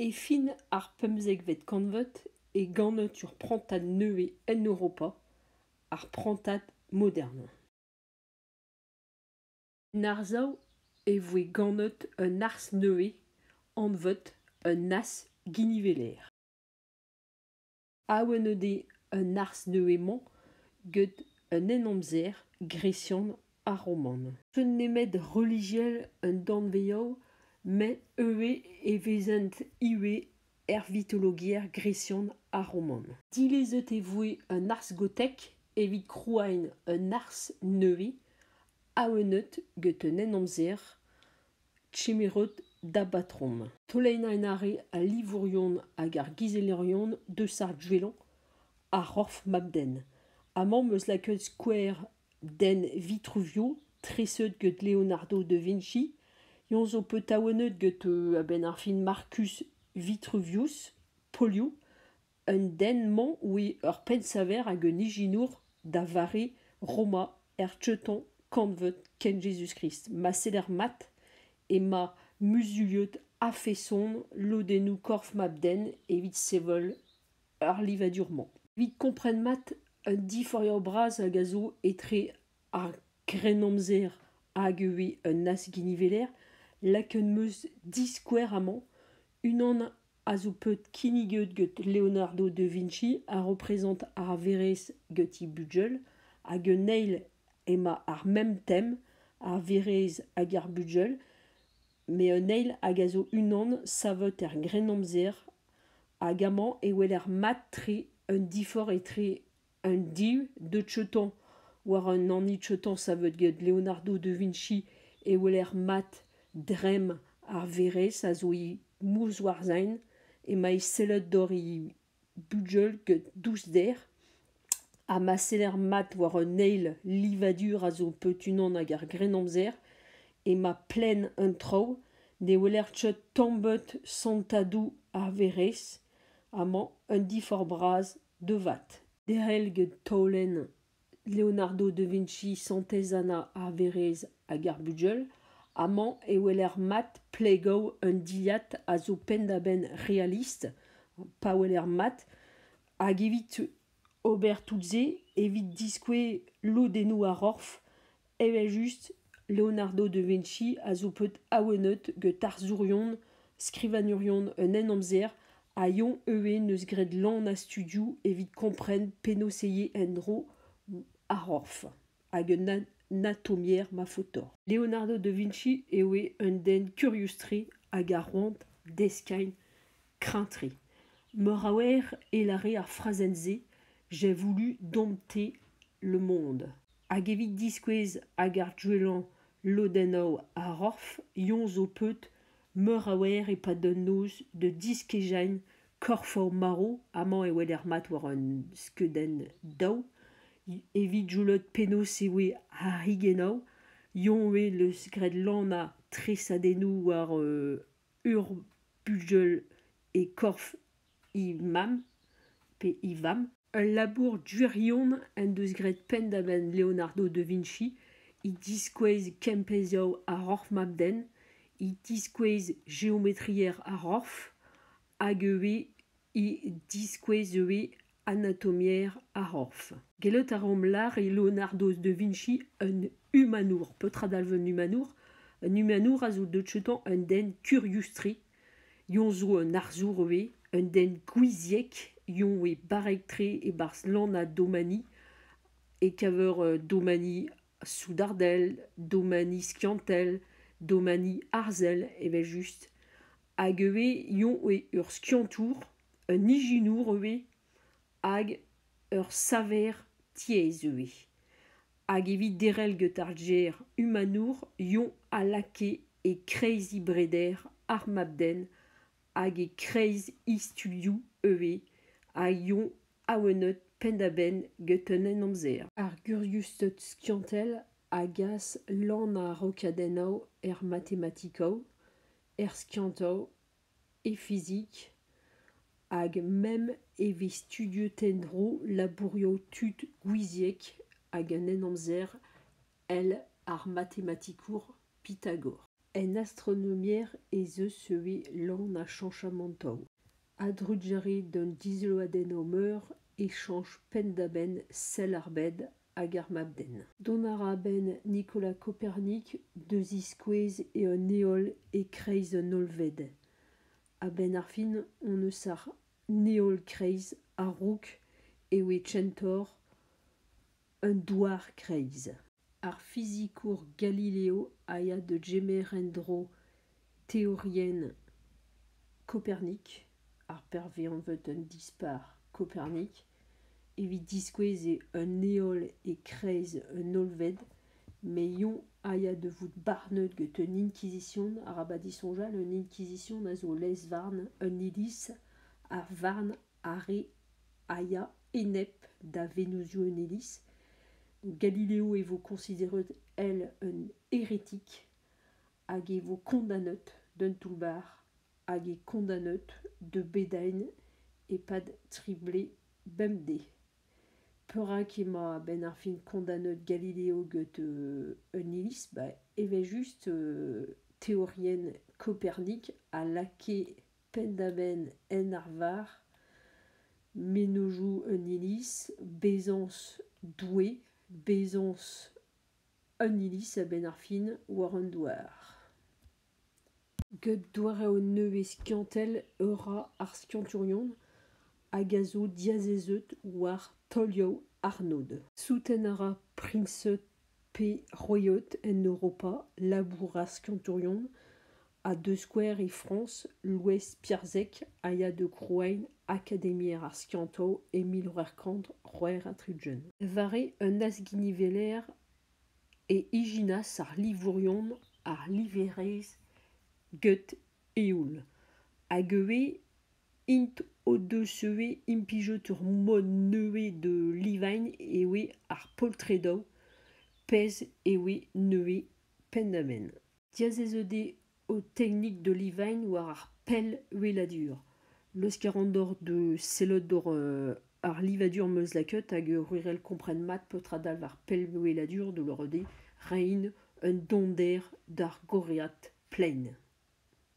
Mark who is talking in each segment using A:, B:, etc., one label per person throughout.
A: E fin ar pemzekvet kantved e ganatur prantad nevez en Europa, ar prantad modern. En arsav e voe ganet un arz nevez, anvet un as giniveler. Awen eo dezhe un arz neuze-mañ get un henamzer gresian ha roman. N'eus nemet relijiel un danvez-all met ivez e vezent ivez er vitologiezh gresian ha roman. Dilezet e voe an arz gotek evit krouaén un arz nevez awenet get un henamzer Chimirod da batrom, toleinañ en are al livourion hag ar gizellerion deus ar gwellañ, ar c'horf mab-den. Amañ 'm eus lakaet skouer den Vitruvio, treset get Leonardo da Vinci. Eñ zo petaouennet get a-benn ar fin Marcus Vitruvius, polioù. Un den-mañ ouie ur pennsaver hag un ijinour da vare Roma er Teuton kantved kent Jezuz-Krist. Ma seder mat emañ muzuliet a-feson lodennoù korf mab-den evit sevel ar livadur-mañ. Evit kompren mat un diforiaur bras hag a zo etre ar Grennamzer hag ivez un azginiveler, lakaet 'm eus diskouer amañ unan a zo bet kinniget get Leonardo da Vinci a reprezent ar verezh get he bugel hag un eil emañ ar mem tem ar verezh hag ar bugel met un eil hag a zo unan savet er grennamzer hag amañ e weler mat-tre un diforc'h etre Un div de Cheton war an hini Cheton savet get Leonardo da Vinci e weler mat dremm ar verezh a zo e Mousc'hoarzhin emañ e sellad dor e bugel get dousder ha ma seller mat war an eil livadur a zo peurunvan ag ar Grennamzer emañ plenn an traoù ne weler ket tamm ebet santadoù ar verezh amañ un diforc'h bras devat derél get taolenn leonardo da vinci santez-anna ar werez hag ar bugel amañ e weler mat plegow un dilhad a zo penn-da-benn realist pa weler mat hag evit ober tout se evit diskouez lodennoù ar c'horf Evel-just, Leonardo da Vinci a zo bet awenet gant tarzhourion, skrivagnerion un henamzer ha Young ivez n'eus graet lann a studio evit kompren penaos eo en-dro ar c'horf hag un anatomier mafotor. Leonardo da Vinci eo un den kurius-tre hag a c'hoant deskagn kreñv-tre. Meur a wer e lâre ar frazenn-se J'ai voulu dompter le monde. Hag evit diskouez hag ar gwellañ lodennoù ar c'horf Yoñ zo paotr meur a oer e-pad un noz da diskejañ korfoù marv. Amañ e weler mat war an skeudenn daou. Evit julout penaos e oe ar higennoù, Yoñ eo 'neus graet lanañ tresadennoù war ur bugel e korf he mamm pe he vamm. Ul labour gwirion en deus graet penn-da-benn Leonardo da Vinci he diskouez kempezioù ar c'horf mab-den, he diskouez geometriezh ar c'horf hag ivez e diskouez ivez anatomier ar c'horf. Gellout a romp lâr e Leonardo da Vinci un humanour. Petra dalv un humanour? Un humanour a zo deut outañ un den kurius-tre. Yoñ zo un arzour ivez, un den gouiziek. Yoñ eo barrek-tre e-barzh lan ha domani, e-keñver domani soudardel, domani skiantel, domani arzel evel-just, hag ivez eo eo ur skiantour, un ijinour ivez, hag ur saver tiez ivez. Hag evit derc'hel get ar gêr humanour eo a lakae e-kreiz he breder ar mab-den hag e-kreiz he studioù ivez a yoa awenet penn-da-benn get un henamzer. Ar guriusted skiantel a gas lan ar rokadennoù er matematikoù, er skiantoù, e fizik hag meme e vez studiet en-dro labourioù tud gouiziek hag an henamzer èl ar matematikour Pythagore. En astronomiezh ez eus ivez lan ha chañchamantoù. A-drugarez d'un dizolladennoù meur e chañch penn-da-benn sell ar bed hag ar mab-den. Dont a ra a-benn Nicolas Kopernik da ziskouez eo un heol e-kreiz un hollved. A-benn ar fin hon eus ar heol-kreiz a-raok eo e centaur un douar-kreiz. ar fizikour galileo a ya da gemer en-dro teorienn kopernik ar pervezañvet un dispac'h kopernik evit diskouez eo un heol e-kreiz un hollved met yoñ a ya da vout barnet get un inkizision arabat disoñjal un inkizision a zo lez-varn un iliz ar varn Arre a ya enep da venozioù un iliz. Galileo e vo consideret el un hérétique hag e vo condamnet d'un toull-bac'h hag e condamnet de Bédaine e-pad tri blez bemdez. Perak emañ a-benn ar fin kondanet Galileo get euh, un iliz bah, evel-just euh, teorienn Kopernik a lakae penn-da-benn en arvar, mennozhioù un iliz, bezañs Doue, bezañs un iliz a-benn ar fin war an douar. Get doareoù nevez skiantel e ra ar skiantourion hag a zo diazezeut war taolioù arnod. Souten a ra Priñs pe royauté en Europa labouras kantonion ha da skouer e Frañs louez Piarzek a ya da grouiñ Akademiezh ar skiantoù e mil c'hwec'h kant c'hwec'h ha tri-ugent. War un azginiveller e ijinas ar livourion ar liverezh get eoul hag ivez int o-deus ivez implijet ur mod nevez de livagne eo ar poltredoù pezh eo nevez pennaenn. Diazezet eo ho teknik de livagne war ar pellweladur. Leuskel a ran deoc'h da sellout doc'h ar livadur 'm eus lakaet hag gwirel kompren mat petra dalv ar pellweladur da lavarout eo reiñ un donder d'ar gorriad plaen.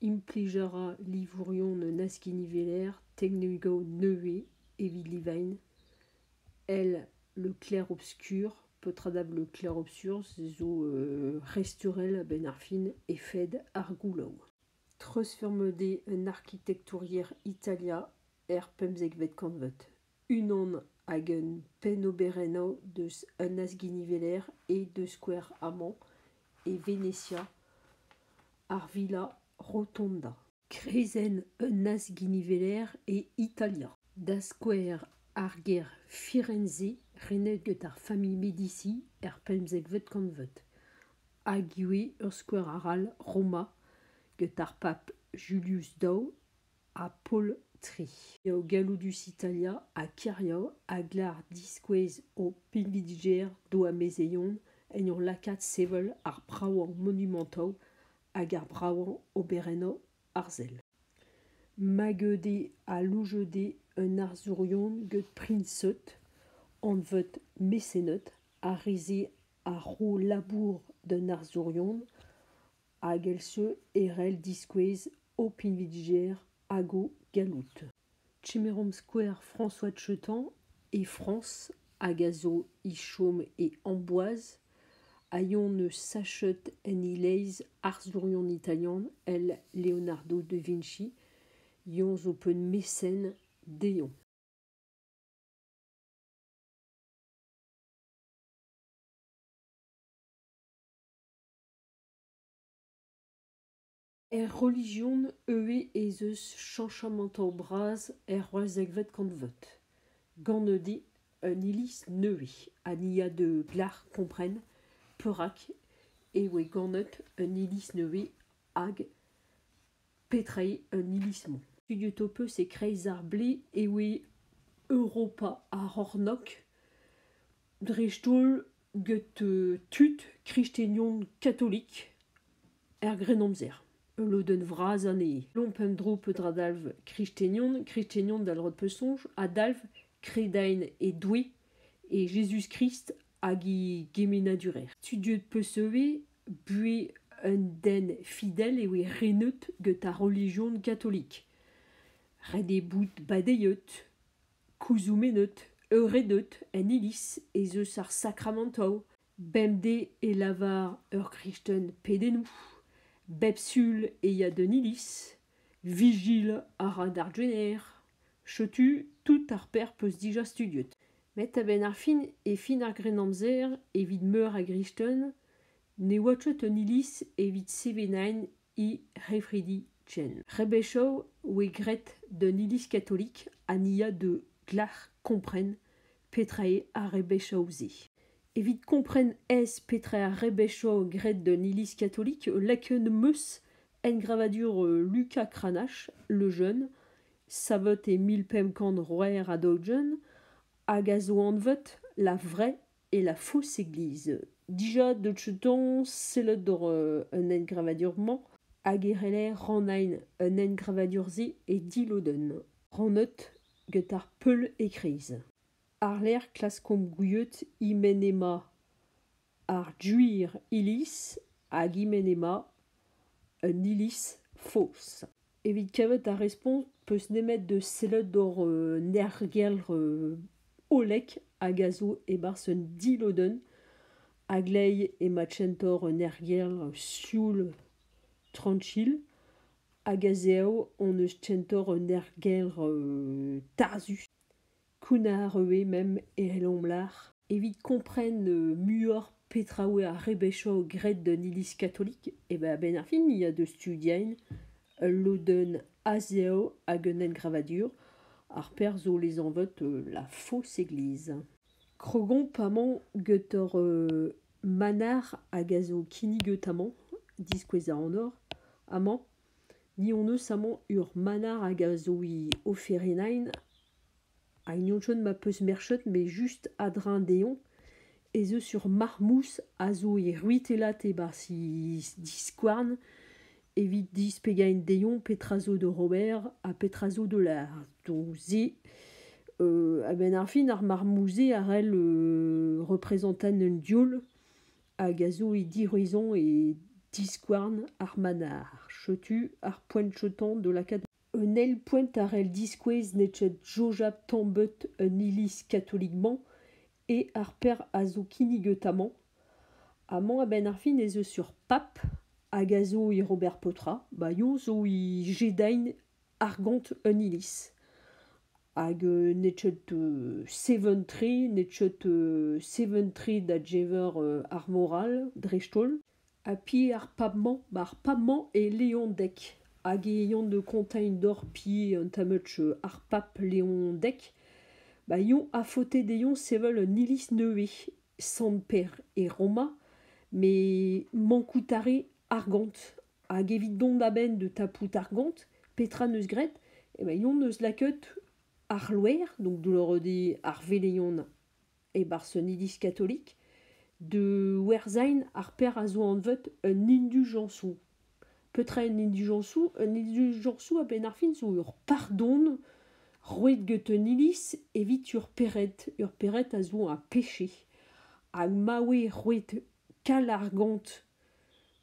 A: Implij a ra livourion un askiniveler technigo nevez evit livain. El le clair-obscur, petra da vout le clair-obscur zo restaurel a-benn ar fin efed ar goulaou. Treuzfurmet eo un arkitektouriezh Italia er pemzekvet kantved. unan hag un pennoberennoù deus un azginiveler eo da skouer amañ e Venezia ar villa rotonda kreizenn un azginiveler e italia da skouer ar gêr firenze renet get ar familh medici er pemzekvet kantved hag ivez ur skouer arall roma get ar pab julius ii ha poltri eo galloudus Italia ha Kerio a gar diskouez o pinvidigezh d'o amezeion en ur lakaat sevel ar bravañ monumantoù hag ar bravañ oberennoù arzel. Mageud eo alouchet eo un arzourion get prinseud anvet Mesened ha re-se a ro labour d'un arzourion hag eil-seur e c'hell diskouez ho pinvidigezh hag ho galloud. Kemeromp skouer François Chetan e Frañs hag a zo e chom e Amboise a yon eus sachet en e-leizh arzourion italian el Leonardo da Vinci. Yon zo peun mesen dezhañ. Er relijion ivez ez eus cheñchamantoù bras er c'hwec'hvet kantved, gant udi un iliz nevez ha ni a deu glac'h kompren perak e voe ganet un iliz nevez hag petra eo an iliz-mañ. Studiet ho peus e-kreiz ar blez e voe Europa ar c'hornôg, dreist-holl get tud kristenion katolik er Grennamzer. Ul lodenn vras anezhe. Lomp un dro petra dalv kristenion. Kristenion da lod pesoñj a dalv kredaén e Doue e Jezuz-Krist hag e gemenadurer. Tu deuet 'peus ivez buhez un den fidel e oe renet get ar relijion katolik. Ret eo bout badeiet. Kuzhumennet, euredet en Iliz ez eus ar sakramantoù bemdez e lavar ur gristen pedennoù, bep sul e ya d'un iliz, vigil a ra d'ar rener, setu tout ar pec'h 'peus dija studiet. Met a-benn ar fin e fin ar Grennamzer evit meur a gristen Ne oa ket un iliz evit sevenaén he c'hefridi ken. Rebechou oe graet d'un iliz katolik ha ni a deu glac'h kompren petra eo ar rebechou-se. Evit kompren aes petra ar rebechou graet d'un iliz katolik, lakaet 'm eus engravadur Luka Kranache, Le Jeune, savet e mil pemp kant c'hwec'h ha daou-ugent, hag a zo anvet La Vraie E la fosse-église. Dija dotcheton sellet doc'h euh, an engravadur-mañ hag e c'heller rannañ an engravadur-se e dilodenn. Rannet get ar peul e-kreiz. Àr-lerc'h klaskomp gouiet e-men emañ ar Duir Iliz hag e-men emañ an iliz faos. Evit kavet ar respont 'peus nemet da sellout doc'h nergell hollek hag a zo e-barzh un dilodenn a glev emañ tsentor un ergell sioul tranchil hag a-zehoù hon eus tsentor un ergell tarzhus. Kounnar eo memp el Lombard evit kompren muioc'h petra oa ar rebechou graet d'an Iliz katolik. Eben a-benn ar fin ya da studien ul lodenn a-zev hag un engravadur. Ar perzh zo lezanvet La Fausse Église. Krogomp amañ get hor manac'h hag a zo kinniget amañ, diskouez a anor amañ. Ni hon eus amañ ur manac'h hag a zo he oferennaén ha hini anchouen ma peus merchet met just a-dreñv dezhoñ ez eus ur marmouz a zo e c'hwitellat e-barzh he diskouarn evit displegaén dezhoñ petra zo d'ober ha petra zo da lâret. Donc se a-benn ar fin ar marmouz-se a c'hell represantaén un diol hag a zo e diraison e diskouarn ar manac'h. Setu ar poent-chautañ da lakaat. Un eil poent a c'hell diskouez n'eo ket soñjal tamm ebet an iliz katolik-mañ eo ar per a zo kinniget amañ. Amañ a-benn ar fin ez eus ur pab hag a zo e Robert Potra. Ba eo zo e Jedain argont un iliz. Hag n'eo ket seventri, n'eo ket seventri da geñver ar moral dreist-holl. Ha pi ar pab-mañ, ba ar pab-mañ eo Leondeg hag e eont da gonteiñ deoc'h pi un tammad ar pab Leondeg. Ba eontr a faote dezhoñ sevel un iliz nevez, Sant-Pêr e Roma, met mankout a re argont Hag evit dont a-benn da tapout ar gont, petra 'neus graet? Evel-hon 'neus lakaet ar c'hloer, donc dloreudiñ ar veleien e-barzh un iliz katolik, da werzhañ ar pec'h a zo anvet un induljañsoù. Petra un induljañsoù? Un induljañsoù a-benn ar fin zo ur pardon roet get un iliz evit ur pered. Ur pered a zo a peche. Hag ma oe roet kal ar gont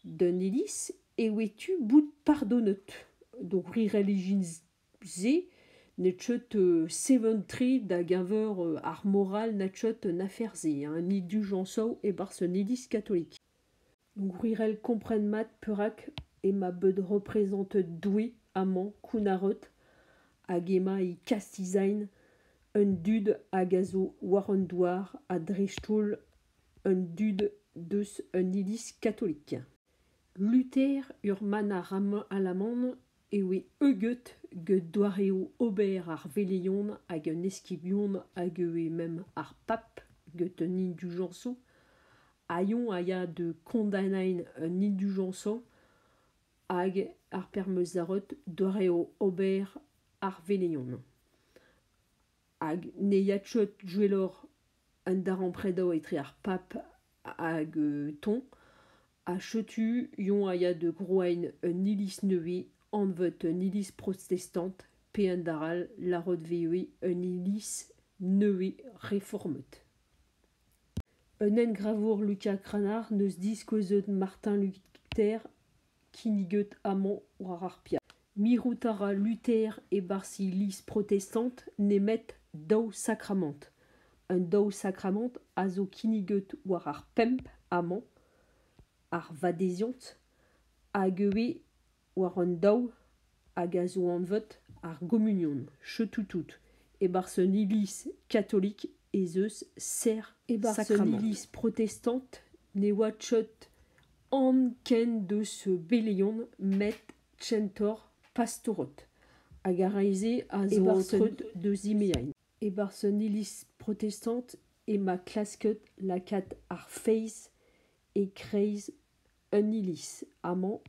A: D'an iliz e oe tu bout pardonet d'o pri relijion-se ne teued seven-tre da-geñver ar moral na teued an afer-se, an induljañs zo e-barzh an iliz katolik. Gwirel kompren mat perak emañ bet reprezentet Doue amañ kounnaret hag emañ e kastell-zain an dud hag a zo war an douar ha dreist-holl An dud deus un iliz katolik. Luther ur manac'h alaman e oe heugeut get doareoù ober ar veleien hag an eskibion hag e oe mem ar pap get an indujañsoù ha eñ a ya da kondaenaén an indujañsoù hag ar permezarot doareoù ober ar veleien. Hag ne ya ket gwelloc'h un darempredañ etre ar pab hag toñ ha setu yoñ a ya da grouiñ un iliz nevez anvet un iliz protestant pe un dall all lâret ivez un iliz nevez reformet. un engravour Lucia Cranach 'neus diskouezet Martin Luther kinniget amañ war ar piaz. Mirout a ra Luther e-barzh Iliz protestant nemet daou sakramant. Un daou sakramant a zo kinniget war ar pemp amañ, ar vadeziant, hag ivez war an daou hag a zo anvet ar gommunion cheutout e-barzh un iliz katolik ez eus serr e-barzh un iliz protestant ne oa cheut anv ken deus beleion met centaur pastorot hag ar re-se a zo antret deus zimeain e-barzh un iliz protestant ema klasket lakaat ar feiz e-kreiz En iliz amañ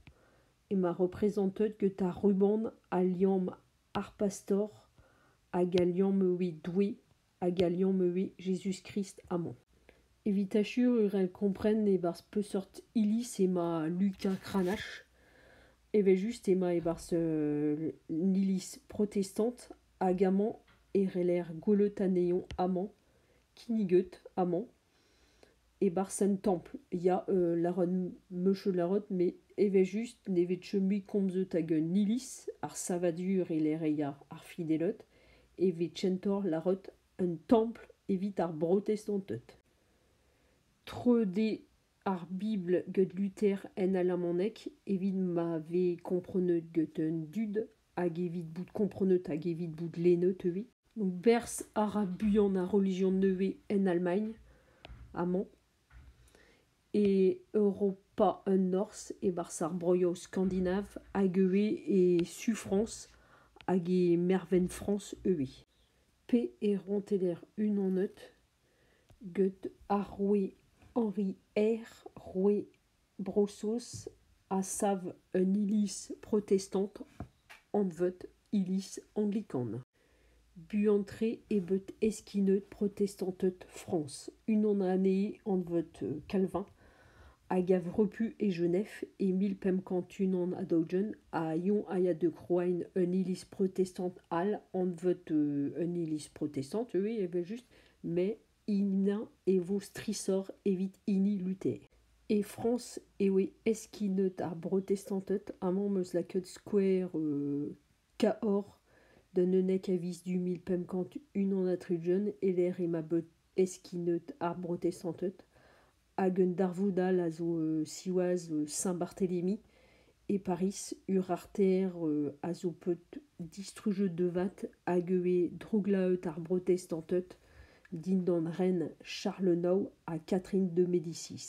A: emañ reprezentet gant ar ruban a liamm ar Pastor hag a liamm evit Doue hag a liamm evit Jezuz-Krist amañ. Evit achurer e kompren e-barzh peseurt iliz emañ Luka Cranache evel-just emañ e-barzh un iliz protestant hag amañ e reer gwelout anezhañ amañ kinniget amañ. E-barzh un templ ya lâran meus cheu lâret met evel-just ne vez cheu mui komzet ag un iliz ar savadur e-lec'h ya ar fideled e vez kentoc'h lâret un templ evit ar brotestanted. Treude ar bibl get Luther en alamaneg evit ma vez komprenet get an dud hag evit bout komprenet hag evit bout lennet ivez. berzh a ra buan ar relijion nevez en Allemagne amañ e Europa an Norzh e-barzh ar broioù skandinav hag ivez e su Frañs hag e mervent Frañs ivez pe e rouantelezh unanet get ar roue Henri I roue Bro-Saoz a sav un iliz protestant anvet iliz anglikan. Buan-tre eo bet eskinet protestanted Frañs unan anezhe anvet Calvin hag a repu e Genève e mil pemp kant unan ha daou-ugent ha eñ a ya da grouiñ un iliz protestant all anvet un iliz protestant ivez evel-just met Ina e vo strishoc'h evit hini Luther. E Frañs e oe eskinet ar brotestanted amañ 'm eus lakaet skouer Cahor d'un eunek a viz du mil pemp kant unan ha tri-ugent e-lec'h ema bet eskinet ar brotestanted hag un darvoud all a zo siwazh Saint-Barthélemy e Pariz. Urarter a zo paotr distrujet de vat hag e oe drouglaet ar brotestanted dindan ren Charles IX ha Catherine de Médicis.